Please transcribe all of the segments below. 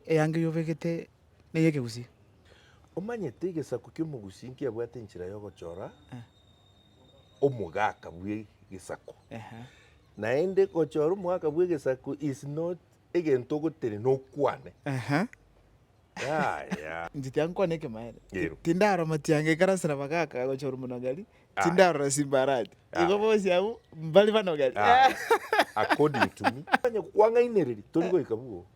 Eanga y'obegete ney'ekegusii. Omanyete egesaku ki'omogusii nkiabwate enchera y'ogochora omogaka bw'egesaku, naende gochora omogaka bw'egesaku is not egento ogotenena okwane. Yaya. Inche tiankwana ekemaene. Tindara amatianga ekarasera abagaka gochora omonagari, Tindarora simbarati. Igo bonsi abwo mbare banogete. According to me. Onye kwang'ainereria tori goika bwo.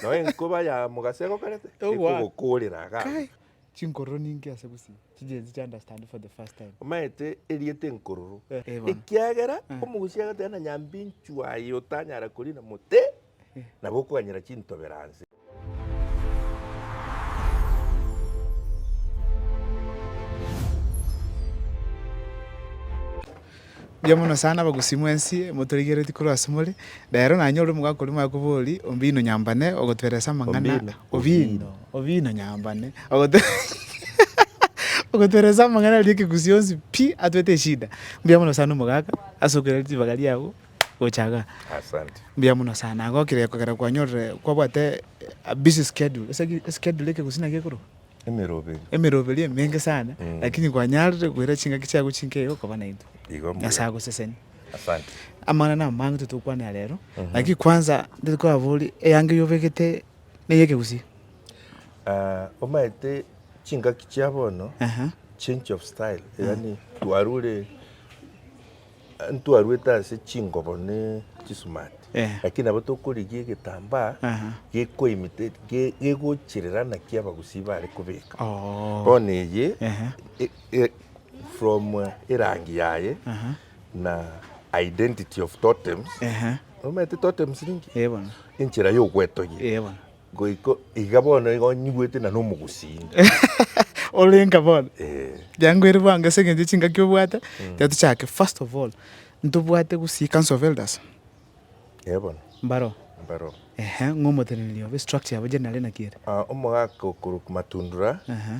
Nao enkoba ya mogaso egokarete ekogokoorera agaga. Chinkororo ninki ase gusii chigenzi chi understand for the first time? Omaete erieta enkororo. Ekiagera omogusi agateba na nyambinchu aye otanyara koriina mote nabo okoganyera chintobero anse. Mbuya mono sana abagusii mwensi motorigeretie korwa ase more. Rero nanye ore omogaka oria moye koborie, Ombino Nyambane ogotoeresa amang'ana. Ombino. Ombino. Ombino Nyambane ogoto ogotoeresa amang'ana aria ekegusii yonsi pi, atwete eshida. Mbuya mono sana omogaka ase okoiraneria ribaga riabo. gocha iga. Asante. Mbuya mono sana. Nagokire kogera kwanyorire kwabwate a busy schedule. Ase ki eschedule eke gose naki ekorokwa? Emeroberi. Emeroberi emenge sana Mm. lakini kwanyarire koira chingaki chiago chinkei iga okoba naintwe. Igo mbuya. Nyasaye agoseseni. Asante. Amang'ana nabo amange totari gokwana aya rero, Mhm. lakini kwanza ntari kobaboria eyango eyi obegete neye ekegusii? Ah, omanyete chingaki chia bono, Aha. change of style, yaani twarure Ntwarwete ase chingobo ne chisumati, Eh. lakini nabo tokorigia egetambaa Aha. gekoimite- ge- gegochirera naki abagusii bare kobeka. Oh. Bono eye Ehe. e- e- from erangi yaye Aha. na identity of totems. Ehe. Omanyete totems ninki? Eh, bono. Enchera y'ogwetogia. Eh, bono. Goiko iga bono iga onyigwete na nomogusinde. Orenga bono. Riango ere bwango ase engencho chingaki obwate, tiga tochake. First of all, ntobwate gusii Council of Elders. Eeh bono. Mbaro. Mbaro. Ehe, ng'omoteneneri obe, structure yabo generally naki ere? Omogaka okorokwa Matundura. Ehe.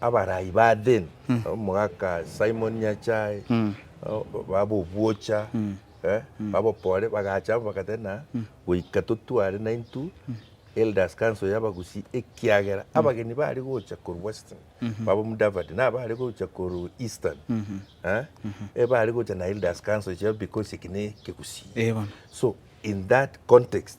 Abarai ba Athene, omogaka Simon Nyachae, bab'obwocha, bab'oboore, bagacha amo bagateba ng'a goika totware naintwe Elders Council y'Abagusii ekiagera abageni bare gocha korwa Western, baba Omudavadi, na abare gocha korwa Eastern, ebare gocha na Elders Council chiabo because eki n'Ekegusii. So in that context.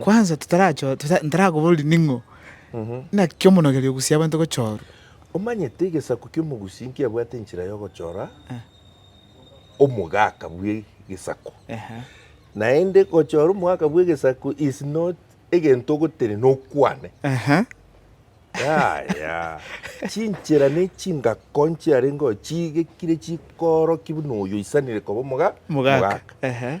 Kwanza totarachoo, tota, ntarakobororia ning'o naki omonogeri ogusia abanto gochorwa. Omanyete egesaku ki'omogusi nkiabwate enchera y'ogochora omogaka bw'egesaku, Ehe. naende gochora omogaka bw'egesaku is not egento ogotenena okwane. Ehe. Yaya, chinchera ne chingako nchiarengeo chiigekire chikoorokia buna oyo oisanire koba omoga, Mogaka. Ehe.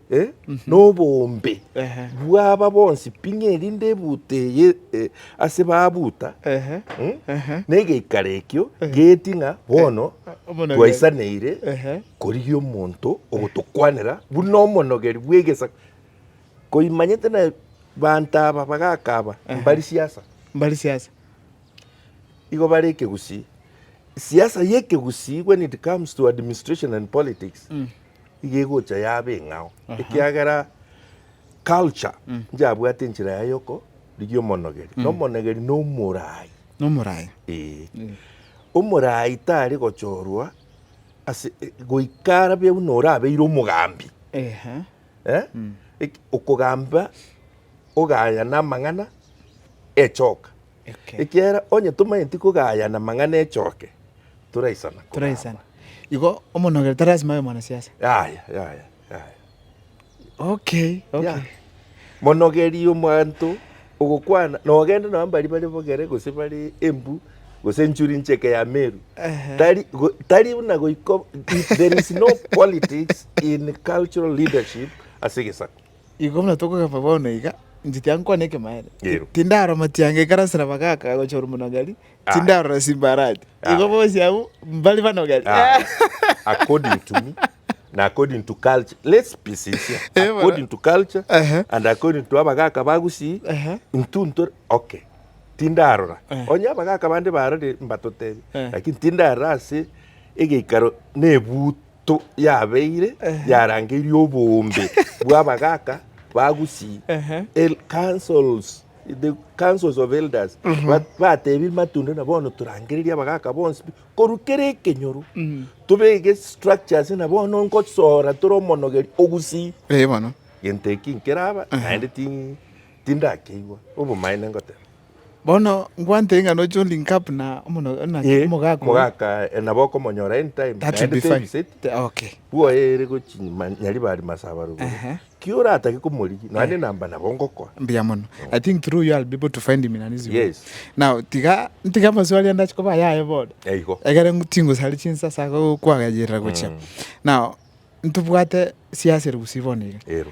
noboombe bw'aba bonsi ping'a erinde ebuuta eye ase babuuta negeikaro ekio geetie ng'a bono twaisanaire korigia omonto ogotokwanera buna omonogeri bw'egesaku. Koimanyete na banto aba bagakaba mbari siasa. Mbari siasa. Igo bare ekegusii. Siasa y'ekegusii when it comes to administration and politics iga egocha yaba eng'ao, ekiagera culture nchiyabwate enchera yaye yoko rigia omonogeri, na omonegeri na omorai. Nomorai. Ee. Omorai tare gochorwa ase e- goika arabe buna orabeire omogambi. Ehe. Eh? Eki- Okogamba ogaya na amang'ana echoka. Ekiagera onye tomaeti kogayana amang'ana echoke, toraisana kogamba. Igo omonogere tari lasima abe mwanasiasa. Yaya, yaya, yaya. Okay, okay. Yeah. Monogerie omonto ogokwana nogende nabo mbari bare bogere gose bare embu gose nchuri ncheke ya meru tari tari buna goiko there is no politics in cultural leadership ase egesaku Igo buna tokogamba bono iga, inche tiga nkwane ekemaene. Ero. Tindaro matianga ekarasera bagaka gocha ore monogeri, Aye. tindarora simbarati. Aye. Igo bonsi abwo mbare banogeri. Ah, according to me na according to culture let's be sincere Eh, bana. according to culture Ehe. and according to abagaka bagusii Ehe. intu ntore okay tindarora Eh. onye abagaka bande barore mbatotebi Eh. lakini tindarora ase egeikaro nebuti to yabeire yarangeirie oboombe bw'abagaaka ba Gusii, Ehe. el- councils, the councils of elders ba- bateebire Matunda na bono torangererie abagaaka bonsi pi, korwa kere ekenyoro tobege structures na bono ngosoora tore omonogeri o Gusii Ee bono. gento eki nkeraba naende ti- tindakeigwa obomaene ngoteba Bono ngwantere ng'a noche o link up na omono- na Ee, omogaka oyo. omogaka eh, nabo okomonyora anytime That would be naende fine. tebiset Te- Okay. bwoere gochi ma- nyariba ari masaba rogoro Ehe. ki oratake komorigia nonya ne namba nabo ngokoa mbuya mono i think through you i'll be able to find him in an easy way. Yes. now tiga ntiga amaswali ande achikoba ayaye boda Eh, igo egere ngu- chingusari chinsa ase ago kwagayerera gochia now ntobwate siasa ere gusii bono iga ero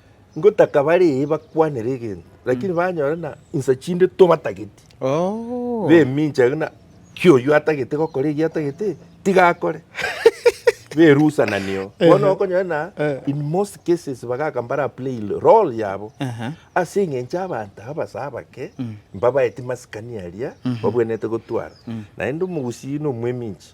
Ngotaka bare ee bakwanere egento, lakini banyore na insa chinde tobatageti, Oh. bemincha ng'a ki oyio atagete gokora eki atagete eki, tiga akore. berusa na neo. Bono okonyora na Eh. in most cases bagaka mbara play role yabo Aha. ase eng'encho abanto abase abake mbabaeti masikani aria babwenerete gotwara. Naende omogusii na omweminchi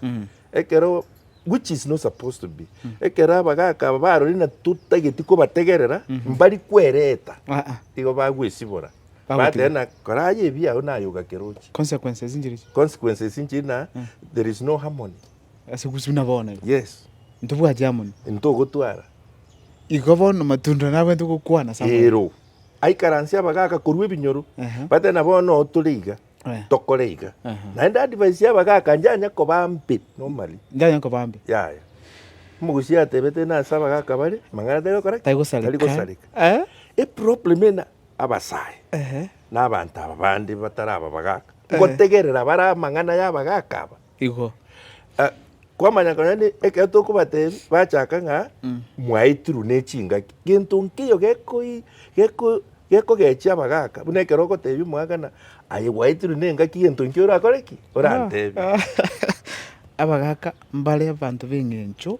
Ekero, which is not supposed to be, ekero abagaka aba barorire na totageti kobategerera, mbari kwereta, Ah, ah. igo bagwesibora. Bagotiga. Bateba na koraye ebi ao naye ogakerochi. Consequences inchiri ichi. Consequences inchiri na there is no harmony. Ase gusi buna bono iga. Yes, Ntobwati harmony. ntogotwara. Igo bono matunda nabwenerete gokwana Samuel. Ero. Aikaransia abagaka korwa ebinyoro. Aha. Bateba na bono tore iga. Eh. tokore iga. Aha. Naende advice y'abagaka njanya koba mbe normally. Njanye nkoba mbe. Yaya. Omogusii atebete ng'a ase abagaka bare, amang'ana tari gokora ki? Tari gosareka. Tari gosareka. Eh. Eproblem ena abasae Ehe. na abanto aba bande batari aba bagaka, ngotegerera bare amang'ana y'abagaka aba. Igo. Kwamanya konya ne ekero tokobatebi bachaka ng'a mwaitirwe ne chingaki. Gento nkeiyo gekoi geko gekogechia abagaka buna ekero ogotebia omwagana aye gwaitirwe ne engaki gento nkio orakore ki? Orantebie. Abagaka mbare abanto b'eng'encho.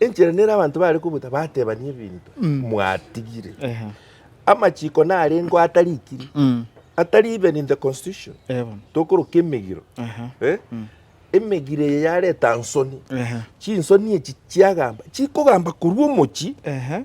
Enchera nere abanto bare kobota batebanie ebinto mwatigire. Ehe. Amachiko narengeo atarikiri, Mm. atari even in the constitution. Eh, bono. Tokoroka emegiro. Aha. Eh? Emegiro eye yareta nsoni. Ehe. Chinsoni echi chiagamba, chikogamba korwa omochi Ehe.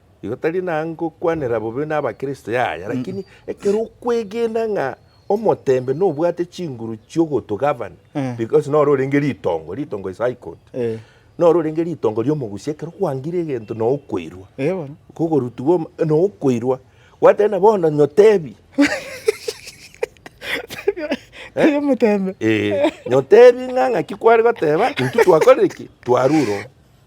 Igo tari nangokwanera bobe n'Abakristo, yaya, lakini ekero okwegena ng'a omoteembe nobwate chinguru chi'ogotogavana, Eh. because noro orenge ritongo, ritongo is high court, Eh. noro orenge ritongo ri'omogusi, ekero kwangire egento noo okoirwa, Eh, bono. kogorutigwa om- noo okoirwa, gwateba nabo bono nyotebi, Tari omoteembe. eh, nyotebi ng'a ng'aki kware goteba, intwe twakorire ki? Twarure oo.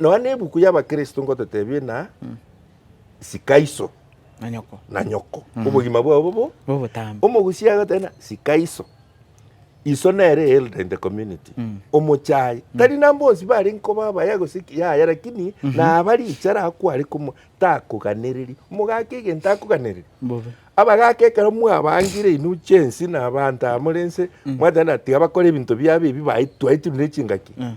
Nonya nebuku y'Abakristo ngototebie na sika iso na nyoko na nyoko mm. obogima bwao bobo bobotambe omogusia agotena sika iso iso nere elder in the community mm. omochai mm. tari nambonsi bari nkoba abaya gosiki yaya lakini mm -hmm. nabari ichara akwari kumo takoganereri mogaka egento akoganereri abagaka ekero mwabangire inu chensi na abanto amorense mm. mwatena tiga bakora ebinto biabo ebi twaetunire chingaki mm.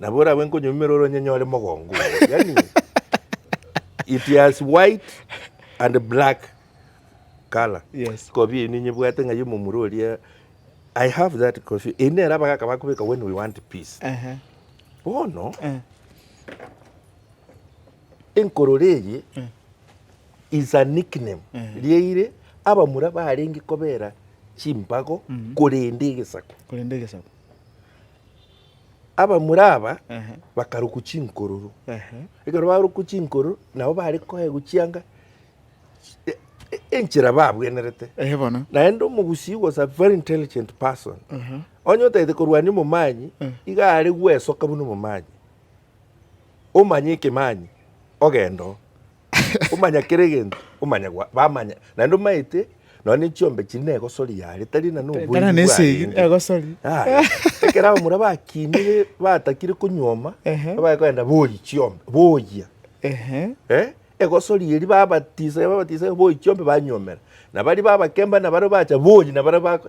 Nabo orabe nkonyumera ore onyenyore mogongo oyo. Yani it has white and black color. Yes. Kobi eyio ninyebwate ng'a yomomura oria I have that coffee. Eyi nere abagaka bakobeka when we want peace. Ehe. Bono Eh. enkorora eye Eh. is a nickname Eh. riaire abamura barenge kobera chimpago korenda egesaku. Korende egesaku. abamura aba bakarokwa chinkororo. Ekero barokwa chinkororo, nabo bare koegwa chianga enchera babwenerete. Naende omogusii was a very intelligent person. Onye otagete korwania omomanyi, iga are gwesoka buna omomanyi. Omanye ekemanyi, ogende oo. Omanya kera egento, omanya gwa- bamanya naende omaete nonya ne chiombe chiri na egosori yare tari na noboibi Tara na esegi bwarende. egosori. Aya, ekero abamura bakinire batakire konyuoma, Ehe. babae kogenda boyi chiombe, boyia Ehe. Eh, egosori eri babatisaya babatisaya boyi chiombe banyuomera. Na baria babakemba na baria bacha boyi na baria bako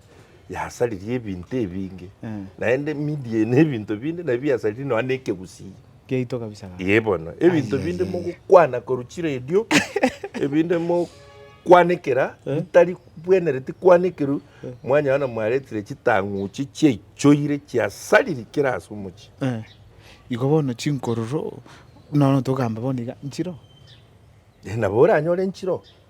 yasaririe ebinto ebinge, Eh. naende media eye na ebinto binde nabio biasaririe nonya na ekegusii. Giaito kabisa iga. Ee bono, ebinto Ai, binde ai, ai, ai. mogokwana korwa chiredio, ebinde mokwanekera bitari bwenereti kwanekerwa, mwanyora mwaretire chitang'uchi chiaichoire chiasariri kera ase omochie. Eh, igo bono chinkororo nono togamba bono iga nchiro Ee, nabo oranyore nchiro,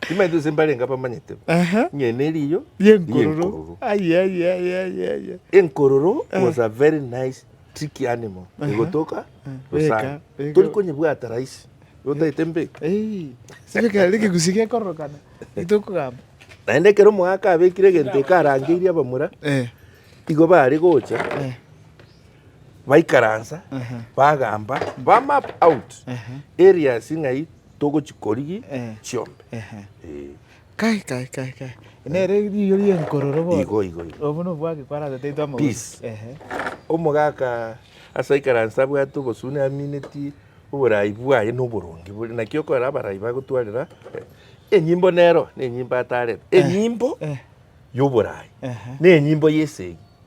Timaeti gose mbarenge abamanyete Aha. ng'ai neriyo Yenkororo. Aye aye aye aye aye. enkororo was a very nice tricky animal egotoka Beka, gosana beka. tori konyebwata rahisi otaete mbeke Eh, sibeka reke gusi gekororokana. Itokogamba. naende ekero omogaka abekire egento ekarangeirie abamura Eh. igo bare gocha Eh. baikaransa Aha. bagamba bamap out Aha. areas ng'ai togochikorigi Eh. chiombe. Ehe. Eh, Kai, kai, kai, kai. Nere riiyo ri'enkororo bono. Igo, igo, igo. Obwo nobwage kwarabeteitwe amauta. Peace. Ehe. Omogaka ase aikaranse abwate obosune amineti oborai bwaye na oboronge bore, naki okorora abarai bagotwarera eh, enyimbo nero nenyimbo atarete, enyimbo Eh. y'oborai, Ehe. nenyimbo y'esegi.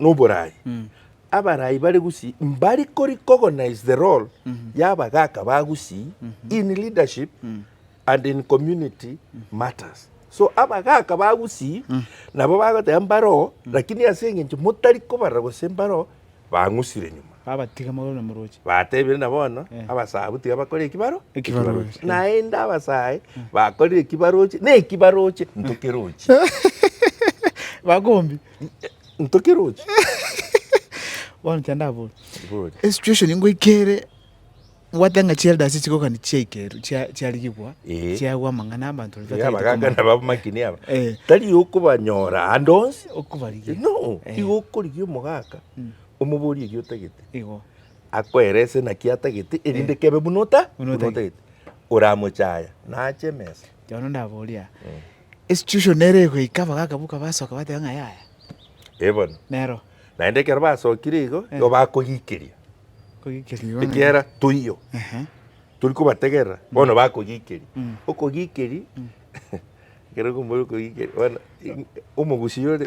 noboraai. Abaraai bare gusii mbari korecognize the role ya abagaaka ba gusii in leadership and in community matters. So abagaaka ba gusii nabo bagoteba mbaroo lakini ase engencho motari kobarora gose mbaroo bang'usire nyuma. Babatiga magoro na moroche. Batebire na bono abasabu tiga bakore ekibaro Ekibaroche. Naende abasae bakorire ekibaroche na ekibaroche ntokeroche. Bakombi. Ntoke roche. Bono tiga ndabore. Bore. Esituation ngoikere bwate ng'a chielders chigokani chiaikerwe chia- chiarigigwa Eh. chiagwa amang'ana abanto Iga batagete abagaka komanya. nabamakini aba. Eh. Tari okobanyora ande onsi. Okobarigia. No, Eh. igo okorigia omogaka, Mm. omoborie eki otagete. Igo. Akoerese naki atagete erinde kebe buna ota, Buna buna otagete. otagete. Oramochaya, naache emesa. Bono ndaboria. Esucussion ere egoika, abagaaka boka basoka bateba ng'a yaya. Ee bono. Nero. Naende ekero basokire igo, igo bakogikeria. Kogikeria bono. Ekiagera toiyo. Ehe. Tori kobategerera, bono bakogikeria. Okogikeria, ekero okomoira okogikeria, bono omogusii ore.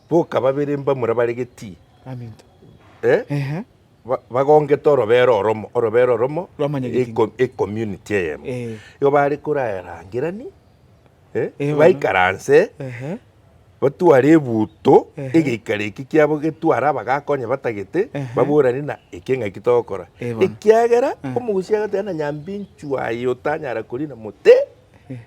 Boka babere mbamura bare getii, bagongete orobera oromo, orobera oromo, ecommunity eyemo. Igo bare korarangerani, baikaranse, batware ebuto, egeikaro ekio kiabo getware abagakonya batagete, baborane na eke ng'aki togokora. Ekiagera omogusia agoteba ng'a nyambinchu aye otanyara korina mote.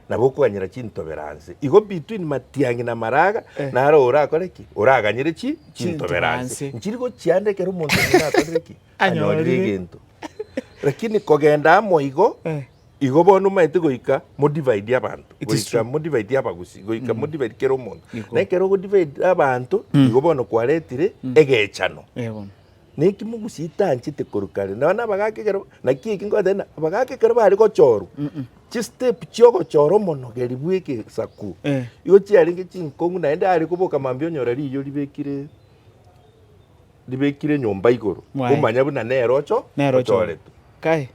na gokoganyera chintoberanse. Igo between matiang'i na maraga naro orakore ki? Oraganyere chi chintoberanse. Nchiri gochia ande ekero omonto omonene akorire ki? Anyorire egento. Lakini kogenda amo igo, igo bono omaete goika modivide abanto. Goika modivide abagusi, goika modivide kera omonto. Na ekero ogodivide abanto, igo bono kwaretire egechano. Naki mogochitanchete korwa kare? Nonya abagaaka ekero, naki eki nkobatebia, na- abagaaka ekero bare gochorwa, chistep chiogochora omonogeri bw'egesaku, Eh. igo chiarenge chinkong'u, naende are koboka mambia onyora riiyo ribekire ribekire nyomba igoro, Mwae. omanya buna nere ocho Nero ocho. ochorete. Kae.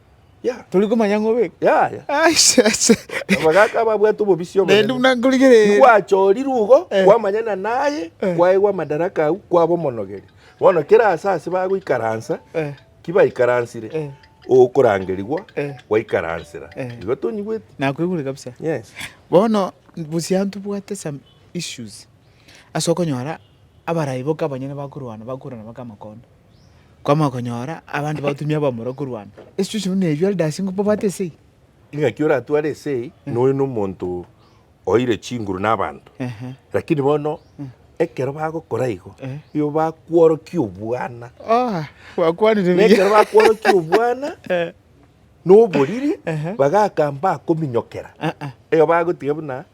Tori komanya ng'a obe. Yaya. Aise, aise. Abagaka babwate obobisi obonene. Naende buna nkorigereria. Gwachorirwe igo, eh. kwamanyana naye, eh. kwaegwa amadaraka au, kwaba omonogeri. Bono kera ase ase bagoikaransa, eh. kibaikaransire, eh. okorangerigwa, eh. gwaikaransira. Eh. Igo tonyigwete. Nakoigure kabisa. Yes. Bono, busia ntobwate some issues. Ase okonyora, abarai boka abanyene bakorwana, bakorana baka amakondo. kwamanya konyora abande bagotumia abamura korwana. Esitueshon buna eyio elders nigo babwate ase eyio. Ing'aki oratware ase eyio, noyo nomonto oeire chinguru nabanto. Ehe. Lakini bono ekero bagokora igo, Eh. nigo bakworokia obwana. Oha, gwakwanire Na ekero buya. bakworokia obwana Eh, na oboriri, Ehe. bagaka mbakominyokera. eh, eh. Igo bagotiga buna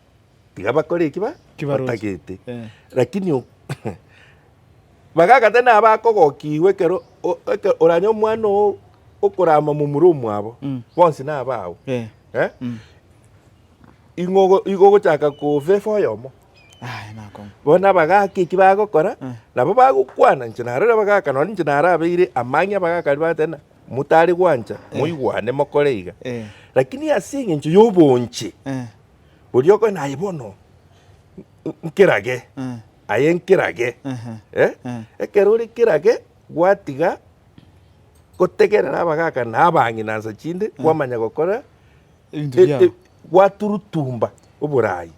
Tiga bakore eki ba- Kibaroche. batagete. Eh. Lakini o- bagagata nabo akogokigwa ekero o- eke- oranye omwana oo okorama momura omwabo, Mm. bonsi nabao. Eh. Eh? Mm. Ing'o ogo- igo ogochaka kofefa oyomo. Aye nakong'u. Bono abagaka eki bagokora, Eh. nabo bagokwana inche narore abagaka, nonye inche narabeire amang'ia abagaka aria bagoteba ng'a motari gwancha, moigwane mokore iga. Eh. Lakini ase eng'encho y'obonche, Eh. Oria okoe naye bono nkerage, aye nkerage. Ekero ore kerage, gwatiga gotegerera abagaka na abang'ina nsa chinde, kwamanya gokora, gwaturutumba oborai.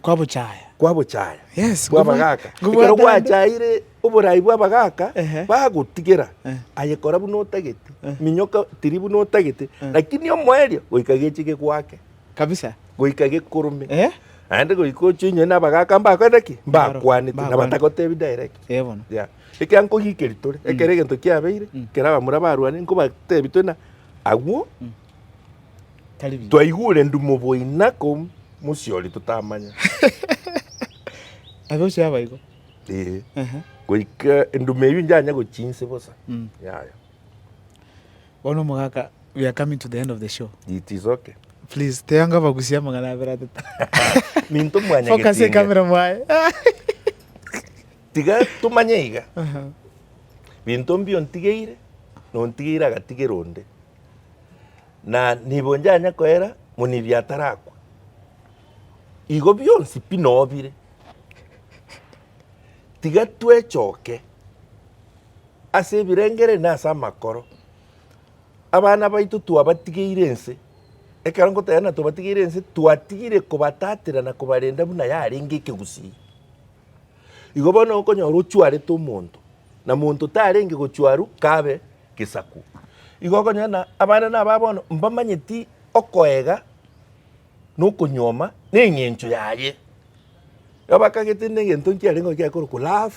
Kwabochaya. Kwabochaya. Yes. Bw'abagaka. Ekero gwachaire oborai bw'abagaka, bagotigera aye kora buna otagete, minyoka tiri buna otagete, lakini omoerio goika geche gegwake. kabisa. Goika gekorome. Eh. Naende goika ochie onye nabagaka mbakorete ki? Mbakwanete, mbakwanete. nabatagotebi direct. Eh, bono. Yeah. Ekero nkogikeri tore, Mm. ekero egento kiabeire, Mm. ekero abamura barwane, nkobatebi twena agwo, Tari biya. twaigure ndumo boina ko mosiori totamanya. Abe osie abaigo. Eh. Ehe. Goika endumo eyio njanya gochia inse bosa. Mm. Yaya. Bono omogaka we are coming to the end of the show. It is okay. Please tee anga bagusie amang'ana abere atato. Minto mwanya Focus getinga. ekamera mwaye. Tiga tumanye iga. Aha. Binto mbio ntigeire, nontigeire agatigera onde. Na nibo njanya koera monibi atarakwa. Igo bionsi pi nobire. Tiga twechoke. Ase ebirengererio na ase amakoro, abana baito twabatigeire ense. Ekero ngotegerera twabatigeire ense, twatigire kobatatera na kobarenda buna yarenge ekegusii. Igo bono okonyora ochwarete omonto, na monto tarenge gochwarwa kabe gesaku. Igo okonyora buna abana na aba bono mbamanyeti okoega na okonyuoma na eng'encho yaye. Igo bakagete buna egento nkiarenge gochia korokwa love,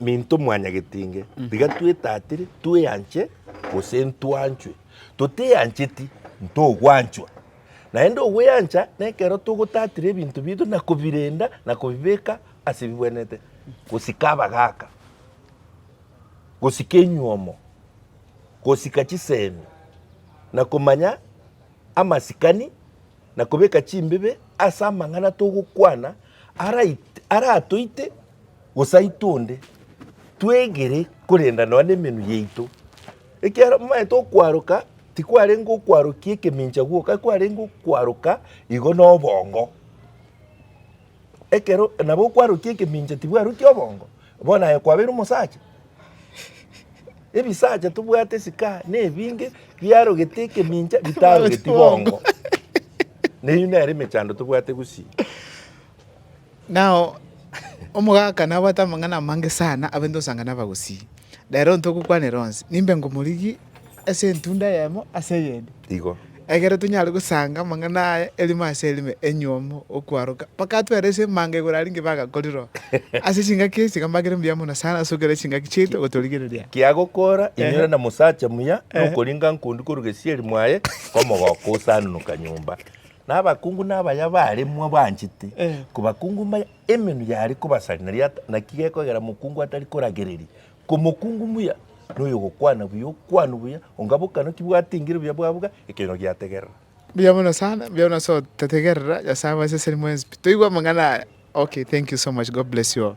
Minto mwanyagete inge, tiga twetatire, tweanche, gose ntwanchwe. Toteancheti, ntogwanchwa. Naende ogweancha nekero togotatira ebinto biaito na kobirenda na kobibeka ase ebigwenerete, gosika abagaaka, gosika enyuomo, gosika chisemi, na komanya amasikani. na kobeka chimbibe ase amang'ana togokwana aratoite gosaitwa onde, twegere korenda nonya nemenwa yaito. Ekiagera momanyete okwaroka tikwarenge okwarokia ekemincha gwoka, kwarenge okwaroka igo nobongo. Ekero nabo okwarutia ekemincha tibwaruti obongo, bono aye kwabeire omosacha? Ebisacha tobwate esikaha nebinge biarogete ekemincha bitarogeti bongo. Neyio nere emechando tobwate gusii. Nao omogaka nabwate amang'ana amange sana, abainte gosanga nabagusii. Rero ntogokwanera onsi, nimbe ngomorigia ase entunda eyemo ase eyende, Igo. ekero tonyare gosanga amang'ana aye erimo ase erime enyiomo okwaroka. Bakatwera ase emanga igoro aria ng'ai bagakorire oo. Ase chingaki echi tiga mbagere mbuya mono sana ase okora chingaki chiaito gotorigereria. Kiagokora, inyora na mosacha muya, na okoringa nkundi korwa gesieri mwaye, komogoka osanunuka nyomba. Na abakungu na abaya baremwa banchete, kobakungu mbaye, Emenwa yare kobasari naria ata, naki gekogera mokungu atari koragereria. Komokungu muya noyogokwana buya okwanu buya, onga bokano ki bwatengire buya bwabuga ekenyoro giategerera. Mbuya mono sana, mbuya mono so totegerera nyasaye mwaseseni mwenspi toigwe amang'ana aya okay thank you so much God bless you all.